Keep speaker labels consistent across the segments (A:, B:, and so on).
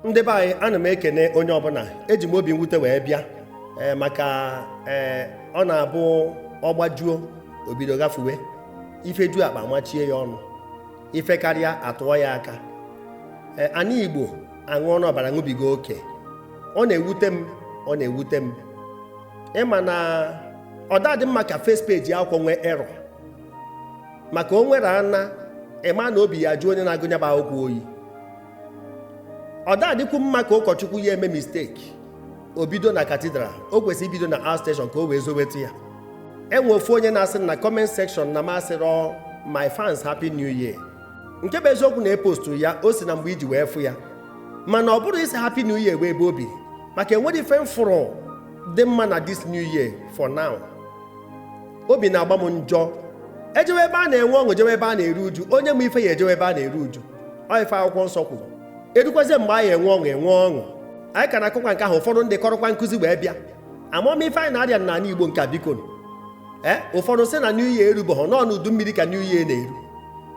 A: ndị be anyị ana m ekene onye ọbụla eji m obi mwute wee bịa ee maka ee ọ na-abụ ọ gbajuo o bido gbafuwe ife ju akpa machie ya ọnụ ife karịa a tụọ ya aka ee anị igbo aṅụọna ọbara ṅụbiga oke ọ na-ewute m ọ na-ewute m ịma na ọ da-adị mma ka first page akwụkwọ nwee error maka o nwere ana ịma na obi ya jụọ onye na-agụ nya bụ akwụkwọ oyi ọ da-adịkwu mma ka ụkọchukwu ya eme mistake o bido na katidral o kwesịrị ibido na out station ka o wee zoweta ya e nwee ofu onye na-asị na comment section na m asịrọ my fans happy new year nke bụ eziokwu na epostu ya o si na mgbe iji wee fụ ya mana ọ bụrọ ịsị happy new year wee ebe obi maka enwerọ ife m fụrụ dị mma na this new year for now obi na-agba m njọ e jewe ebe a na-enwe ọṅụ jewe ebe a na-eru uju onye ma ife ya-ejewe ebe a na-eru uju ọ ife akwụkwọ nsọ kwuru erukwazie mgbe anyị enwe ọṅụ enwe ọṅụ anyị ka na-akọkwa nke ahụ ụfọdụ ndị kọrọkwa nkuzi wee bịa amarọ m ife anyị na-arịa n'anị igbo nke a biko ee ụfọdụ sị na new year erubeghị na ọ n'udu mmiri ka new year na-eru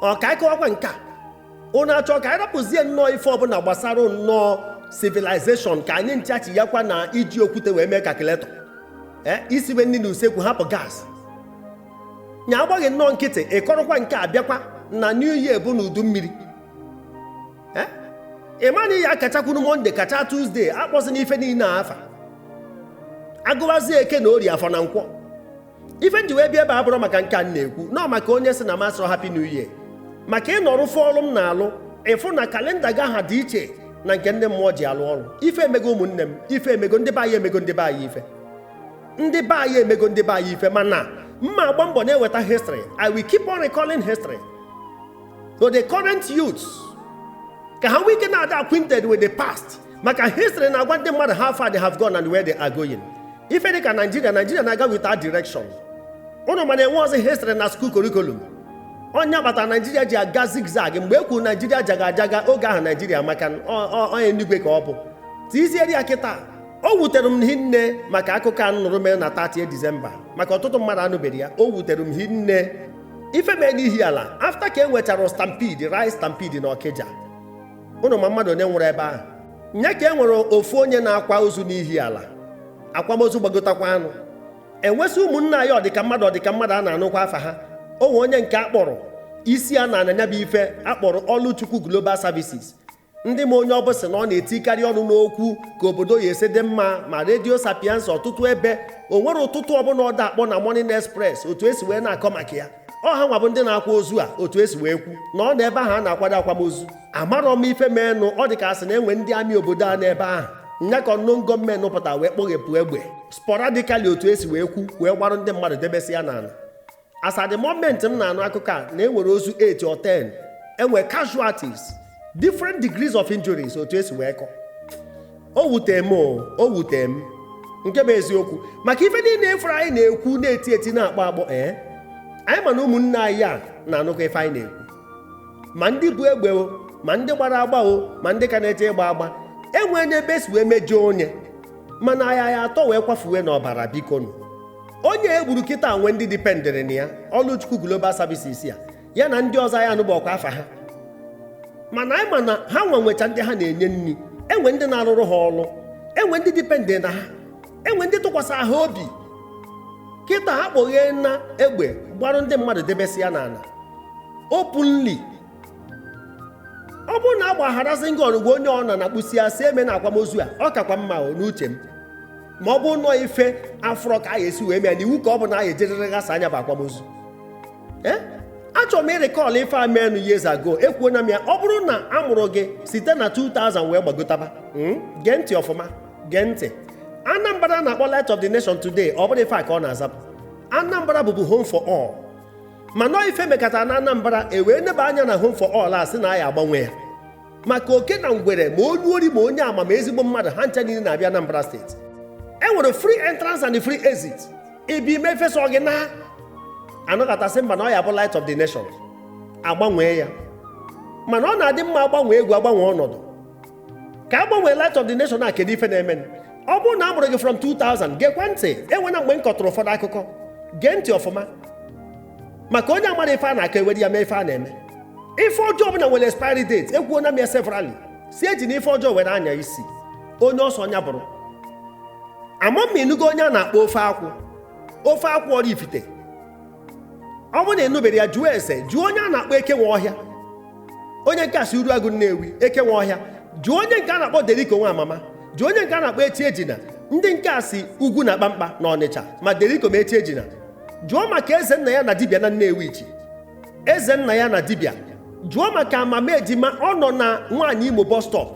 A: ọ ka anyị kọwakwa nke a ụnụ achọ ka anyị rapụzie nnọọ ife ọbụla gbasara nnọọ civilization ka anyị nchachi ya kwa na iji okwute wee mee calculator ee isiwe nri n'usekwu hapụ gas nya agbaghị nnọọ nkịtị ịkọrọkwa nke a bịakwa na new year bụ n'udu mmiri eh? ị ma na ị ya-akachakwunu Monday kacha Tuesday akpọzina ife niile afa a gụwazie eke na ori afọ na nkwọ ife nji wee bịa ebe a abụrọ maka nke a na-ekwu nọọ maka onye sị na m asịrọ happy new year maka ị nọrọ fụ ọrụ m na-alụ ị fụ na kalenda ga-adị iche na nke ndị mmụọ ji alụ ọrụ ife emego ụmụnne m ife emego ndị be anyị emego ndị be anyị ife ndị be anyị emego ndị be anyị ife mana mma agba mbọ na-eweta history i will keep on recalling history to the current youths ka ha nwee ike na-ada acquainted with the past maka history na-agwa ndị mmadụ how far they have gone and where they are going ife dịka naijiria naijiria na-aga without direction ụnụ ma na enwerọzi history na school curriculum ọ nya kpata naijiria ji aga zigzag mgbe e kwuru naijiria jaga jaga oge ahụ naijiria maka onye enugwe ka ọ bụ tizieri ya kịta o wutere m hinne maka akụkọ a nụrụ mere na 30 Disemba maka ọtụtụ mmadụ anụbeghị ya o wutere m hinne ife mee n'Ihiala after ka e nwechara stampede rice stampede na Ọkịja ụnụ ma mmadụ one nwụrụ ebe ahụ nya ka e nwere ofu onye na-akwa ozu n'Ihiala akwamozu gbagotakwanụ e nwezị ụmụnna anyị ọdịka mmadụ ọdịka mmadụ a na-anụkwa afa ha o nwee onye nke akpọrọ isi na nya bụ ife a kpọrọ Ọlụchukwu Global Services ndị ma onye ọ bụ sị na ọ na-etikarị ọnụ n'okwu ka obodo ya esi dị mma ma redio Sapientia ọtụtụ ebe o nwere ụtụtụ ọbụla ọ da-akpọ na Morning Express otu esi wee na-akọ maka ya ọ ha nwa bụ ndị na-akwa ozu a otu esi wee kwu na ọ na ebe ahụ a na-akwado akwamozu amarọ m ife meenụ ọ dị ka asị na enwe ndị amị obodo a n'ebe ahụ nya ka unknown gunmen pụta wee kpọghepụ egbe sporadically otu esi wee kwu wee gbarụ ndị mmadụ debesị ya n'ala as at the moment m na-anụ akụkọ a na enwere ozu 8 or 10 enwe casualties different degrees of injuries otu esi wee kọ o wute m o wute m nke bụ eziokwu maka ife niile ị fụrụ anyị na-ekwu na-eti eti na-akpọ akpọ ee anyị ma na ụmụnne anyị a na-anụkọ ife anyị na-ekwu ma ndị bu egbe o ma ndị gbara agba o ma ndị ka na-eche ịgba agba enwee n'ebe esi wee mejọọ onye mana anyị atọ wee kwafuwe n'ọbara bikonụ onye e gburu kịta nwe ndị dipendịrị na ya Ọlụchukwu Global Services a ya na ndị ọzọ ya anụburọkwa afa ha mana anyị ma na ha nwe nwecha ndị ha na-enye nri enwe ndị na-arụrụ ha ọrụ enwe ndị dipendịrị na ha enwe ndị tụkwasị ha obi kịta ha kpọgheena egbe gbarụ ndị mmadụ debesịa n'ala openly ọ bụrụ na agbagharazi ngị ọnụgwọ onye ọ na na-akpụsi asị eme na akwamozu a ọ kakwa mma o n'uche m ma ọ bụ na ọ ife afụrọ ka a ga-esi wee mee na iwu ka ọ bụ na a ga-ejerịrị ghasa nya bụ akwamozu ee achọrọ m ịrecall ife a meenụ years ago ekwuona m ya ọ bụrụ na a mụrụ gị site na 2000 wee gbagotaba hmm, gee ntị ọfụma gee ntị Anambra a na-akpọ Light of the Nation today ọ bụrọ ife a ka ọ na-azabu Anambra bụbu home for all mana ọ ife mekata na Anambra ewee neba anya na home for all a sị na a ya-agbanwe ya maka oke na ngwere ma onye ori ma onye ama ma ezigbo mmadụ ha ncha niile na-abịa Anambra steeti e nwere free entrance and free exit ibi ime efesa gị na anọkata sị mba na ọ ya-abụ light of the nation agbanwee ya mana ọ na-adị mma agbanwe egwu agbanwe ọnọdụ ka a gbanwee light of the nation a kedu ife na-eme ọ bụrụ na a mụrụ gị from 2000 gekwa ntị enwena mgbe m kọtụrụ ụfọdụ akụkọ gee ntị ọfụma maka onye amarọ ife a na-akọ ewere ya mee ife a na-eme ife ọjọọ ọbụla nwere expiry date ekwuo na m ya severally sị ejina ife ọjọọ were anya isi onye ọ sọ nya bụrụ ama m ma ị nụgo onye a na-akpọ ofe akwụ ofe akwụ Ọraifite ọ bụrụ na ị nụberọ ya jụọ ese jụọ onye a na-akpọ eke nwe ọhịa onye nke a si Uruagụ Nnewi eke nwe ọhịa jụọ onye nke a na-akpọ Deriko Nwamama jụọ onye nke a na-akpọ Chiejina ndị nke a si ugwu na kpamkpa na Ọnịcha ma Deriko ma Chiejina jụọ maka eze nna ya na dibịa na Nnewichi eze nna ya na dibịa jụọ maka amama ejima ọ nọ na nwaanyị Imo bus stop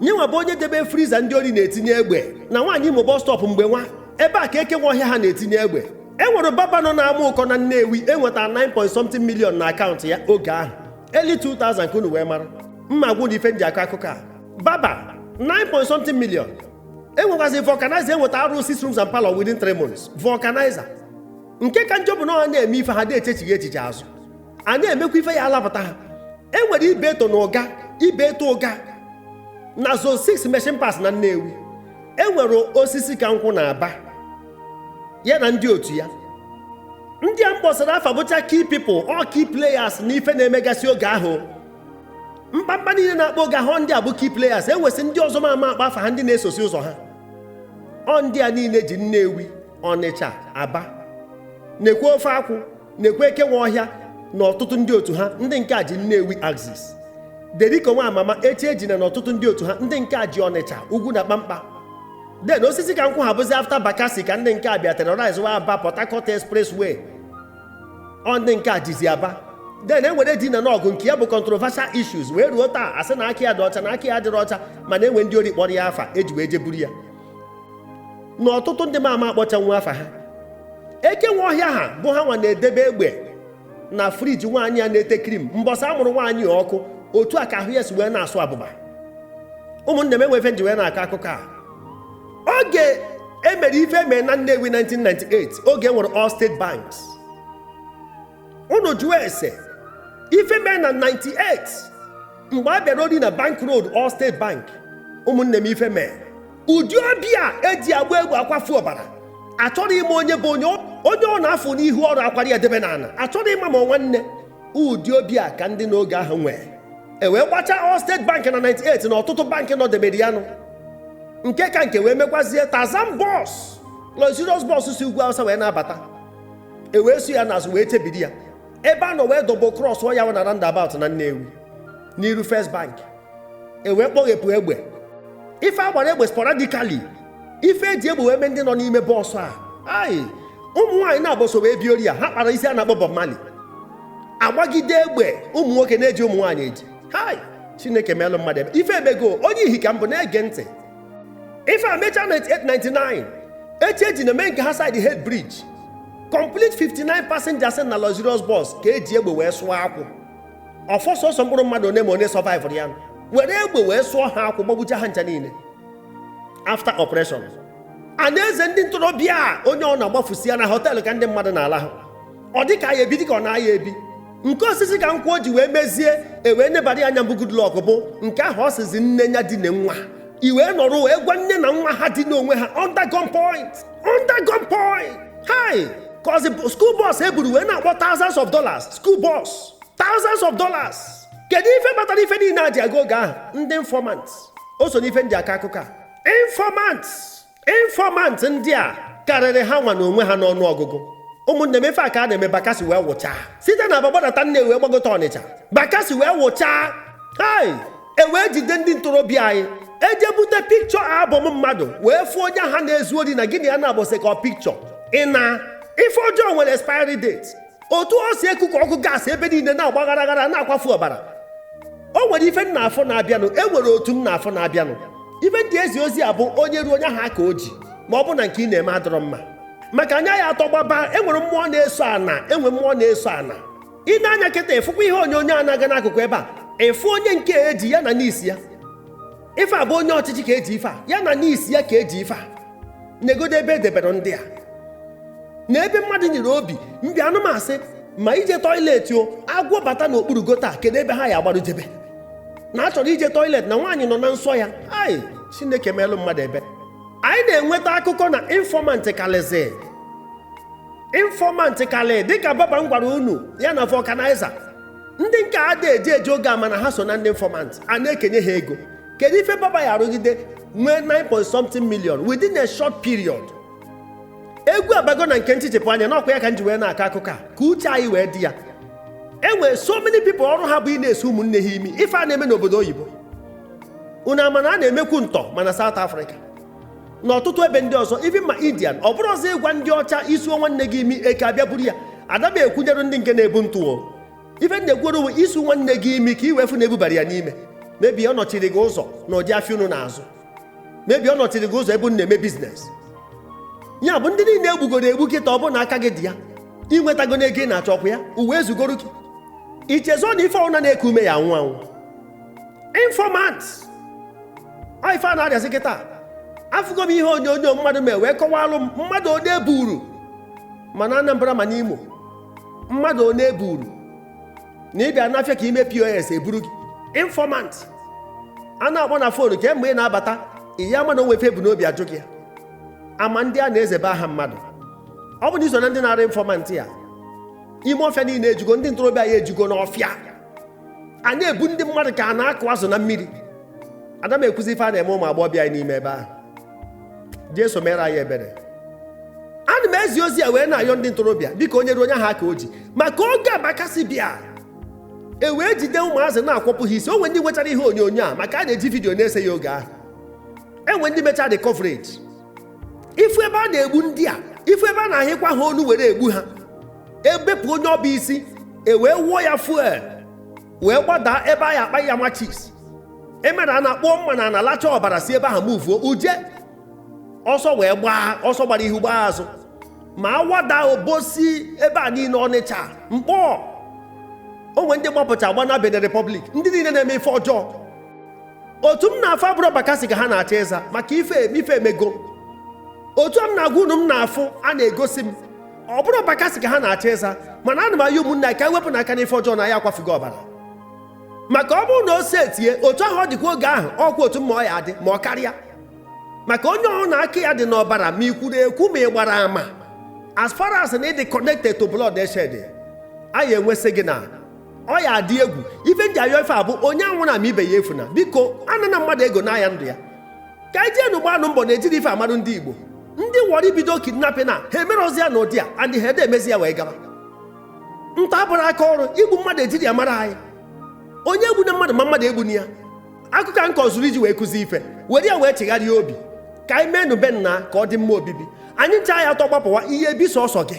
A: nyenwa bụ onye debe friza ndị ori na-etinye egbe na nwaanyị Imo bus stop mgbe nwa ebe a ka eke nwe ọhịa ha na-etinye egbe e nwere barber nọ na Amaụkọ na Nnewi enweta 9 point something million na akaụntụ ya oge ahụ early 2000 ka unu wee mara m ma agwa nụ ife m ji akọ akụkọ a barber 9 point something million enwekwazi vulcanizer enweta arụ six rooms and parlor within 3 months vulcanizer nke ka njọ bụ na ọ ha na-eme ife ha na-echechighị echiche azụ a na-emekwa ife ya alapụta ha e nwere Ibeto na Ụga Ibeto Ụga na zone 6 machine parts na Nnewi e nwere osisi ka nkwụ na aba ya na ndị otu ya ndị a m kpọsịrị afa bụcha key people ọ key players na ife na-emegasị oge ahụ mkpamkpa niile na-akpa oge ahụ ndị a bụ key players e nwesị ndị ọzọ m ama akpọ afa ha ndị na-esosi ụzọ ha ọ ndị a niile ji Nnewi Ọnịcha Aba na-ekwu ofe akwụ na-ekwu eke nwe ọhịa na ọtụtụ ndị otu ha ndị nke a ji Nnewi Axis Deriko Nwamama Chiejina na ọtụtụ ndị otu ha ndị nke a ji Ọnịcha Ugwunakpamkpa then osisi ka nkwụ ha bụzi after Bakassi ka ndị nke a bịa terrorize wa Aba Port Harcourt Expressway ọ ndị nke a jizi Aba then e nwere Edi na Nọgụ nke ya bụ controversial issues wee ruo taa a sị na aka ya dị ọcha na aka ya adịrọ ọcha mana e nwe ndị ori kpọrọ ya afa eji wee jeburu ya na ọtụtụ ndị m ama akpọchanwu afa ha eke nwe ọhịa ha bụ ha nwa na-edebe egbe na friji nwaanyị a na-ete krim mbọsị a mụrụ nwaanyị a ọkụ otu a ka ahụ ya si wee na-asụ abụba ụmụnne m e nwe ife m ji wee na-akọ akụkọ a oge e mere ife mee na Nnewi 1998 oge e nwere All State Banks unu jụọ ese ife mee na 98 mgbe a bịara ori na bank road all state bank ụmụnne m ife mee ụdị obi a eji agba egbe akwafu ọbara achọrọ ịma onye bụ onye onye ọna a fụ n'ihu ọrụ akwara ya debe n'ala achọrọ ịma ma nwanne ụdị obi a ka ndị n'oge ahụ nwee e wee gbachaa all state bank na 98 na ọtụtụ bankị nọdebere ya nụ nke ka nke wee mekwazie Tarzan bus luxurious bus si ugwu awụsa wee na-abata e wee so ya n'azụ wee chebiri ya ebe a nọ wee double cross ya na roundabout na Nnewi n'iru First Bank e wee kpọghepụ egbe ife agbara egbe sporadically ife eji egbe wee mee ndị nọ n'ime bus a hai ụmụ nwaanyị naabọ so wee bịa ori a ha kpara isi a na-akpọ Bob Marley agbagide egbe ụmụ nwoke na-eji ụmụ nwaanyị eji hai Chineke meelụ mmadụ ebere ife emego onye ihi ka m bụ na-ege ntị ife a mechaa 98 99 Chiejina emee nke ha side head bridge complete 59 passengers na luxurious bus ka eji egbe wee sụọ akwụ ọ fọ sọsọ mkpụrụ mmadụ one ma one surviveụrụ ya nụ were egbe wee sụọ ha akwụ gbagbucha ha ncha niile after operation a na-eze ndị ntorobịa onye ọna agbafusịa na họteelụ ka ndị mmadụ na-ala ha ọ dị ka ya ebi dị ka ọ na-aya ebi nke Osisikankwụ o ji wee mezie ewee nebara ya anya mbụ Goodluck bụ nke ahụ ọ sịzi nne ya dina nwa i wee nọrọ wee gwa nne na nwa ha dina onwe ha under gunpoint under gunpoint hai cause school bus e buru wee na-akpọ thousands of dollars school bus thousands of dollars kedu ife kpatara ife niile a ji aga oge ahụ ndị informant o so n'ife m ji akọ akụkọ a informant informant ndị a karịrị ha nwa na onwe ha n'ọnụ ọgụgụ ụmụnne m ife a ka a na-eme Bakassi wee wụchaa site na Aba gbadata Nnewi gbagota Ọnịcha Bakassi wee wụchaa hai ewee jide ndị ntorobịa anyị eje bute picture album mmadụ wee fụọ onye ha na-ezu ori na gị na ya na-abọsị ka ọ picture ị na ife ọjọọ nwere expiry date otu o si ekuku ọkụ gaasị ebe niile na-agba aghara aghara na-akwafu ọbara o nwere ife m na-afụ na-abịanụ e nwere otu m na-afụ na-abịanụ ife m ji ezi ozi a bụ onye ruo onye ahụ aka o ji ma ọ bụ na nke ị na-eme adịrọ mma maka anya ya atọ gbaba enwere mmụọ na-eso ana enwe mmụọ na-eso ana i nee anya kịta ịfụkwa ihe onyonyo a na-aga n'akụkụ ebe a ịfụ onye nke eji ya na n'isi ya ife a bụ onye ọchịchị ka eji ife a ya na n'isi ya ka eji ife a negodo ebe edebere ndị a na ebe mmadụ nyere obi mbi anụmasị ma ije toilet o agwọ bata n'okpuru gota kedu ebe ha ya agbaru jebe na achọrọ ije toilet na nwaanyị nọ na nsọ ya hai Chineke meelụ mmadụ ebere anyị na-enweta akụkọ na informant kalịzi informant kalị dịka barber m gwara unu ya na vulcanizer ndị nke a da eje eje oge ama na ha so na ndị informant a na-ekenye ha ego kedu ife barber ya arụgide nwee 9 point something million within a short period egwu abago na nke ntichepụ anya n'ọkwa ya ka m ji wee na-akọ akụkọ a ka uche anyị wee dị ya e nwere so many people ọrụ ha bụ ị na-esu ụmụnne ha imi ife a na-eme n'obodo oyibo unu ama na a na-emekwu ntọ ma na South Africa n'ọtụtụ ebe ndị ọzọ even ma Indian ọ bụrụ ọzọ ịgwa ndị ọcha isuo nwanne gị imi eke abịa buru ya ada m ekwunyere ndị nke na-ebu ntụ o ife m na-ekwuoro uwe isu nwanne gị imi ka i wee fụ na ebubara ya n'ime maybe ọ nọchiri gị ụzọ na ụdị afịa unu na-azụ maybe ọ nọchiri gị ụzọ ebe unu na-eme business ya bụ ndị niile egbugoro egbu kịta ọ bụ na aka gị dị ya inwetago n'ego ị na-achọ ọkwa ya ụwa ezugoro gị ichezọ na ife ọbụna na-eku ume ya anwụ anwụ informant ọ ife a na-arịazi kịta afụgo m ihe onyonyo mmadụ mee wee kọwalụ m mmadụ one eburu ma na Anambra ma n'Imo mmadụ one eburu na ịbịa n'afịa ka ime POS eburu gị informant a na-akpọ na phone kemgbe ị na-abata ị ya ama na o nwe ife ebu n'obi ajụ gị ya ama ndị a na-ezebe aha mmadụ ọ bụ na iso na ndị na-arụ informant ya ime ọfịa niile ejugo ndị ntorobịa anyị ejugo n'ọfịa a na-ebu ndị mmadụ ka a na-akụ azụ na mmiri ada m ekwuzi ife a na-eme ụmụ agbọghọbịa anyị n'ime ebe ahụ jesu mere anyị ebere ana m ezi ozi a wee na-ayọ ndị ntorobịa dịka onye ruo onye ahụ aka o ji maka oge a bakasị bịa e wee jide ụmụazị na-akwọpụ ha isi o nwe ndị nwechara ihe onyonyo a maka a na-eji vidiyo na-ese ya oge ahụ enwe ndị mechara the coverage ifu ebe a na-egbu ndị a ifu ebe a na-ahịkwa ha onu were egbu ha ebepụ onye ọbụ isi ewee wụọ ya fuel wee gbadaa ebe a ya akpa ya machis emere a na-akpọ mma n'ana lacha ọbara si ebe ahụ muvuo uje ọsọ wee gbaa ọsọ gbara ihu gbaa azụ ma awada obosi ebe a niile ọnịcha mkpọ o nwe ndị gbapụcha gba na Benin Republic ndị niile na-eme ife ọjọọ otu m na-afụ a bụrụ bakasị ka ha na-achọ ịza maka ife ife emego otu a m na-agwa unu m na-afụ a na-egosi m ọ bụrụ bakasị ka ha na-achọ ịza mana ana m ayọ ụmụnna ka e wepụnụ aka n'ife ọjọọ na ya akwafugo ọbara maka ọ bụrụ na o si etie otu ahụ ọ dịkwa oge ahụ ọkwa otu mma ọ ya adị ma ọ karịa maka onye ọbụna aka ya dị n'ọbara ma ị kwuru ekwu ma ị gbara ama as far as na ị dị connected to bloodshed a ya enwesị gị na ọ ya adị egwu ife m ji ayọ ife a bụ onye anwụna ma ibe ya efuna biko anana mmadụ ego naa ya ndụ ya ka anyị jeenụ gbanụ mbọ na ejiri ife amarụ ndị igbo ndị wọrọ ibido kidnapping a ha emerọzi ya na ụdị a and ha adị emezi ya wee gaba nta abụrụ aka ọrụ igbu mmadụ ejiri ya mara anyị onye egbuna mmadụ ma mmadụ egbuna ya akụkọ m kọ zuru iji wee kụzi ife were ya wee chegharịa obi ka anyị meenụ be nna ka ọ dị mma obibi anyị ncha ya atọ gbapụwa ị ya ebi sọsọ gị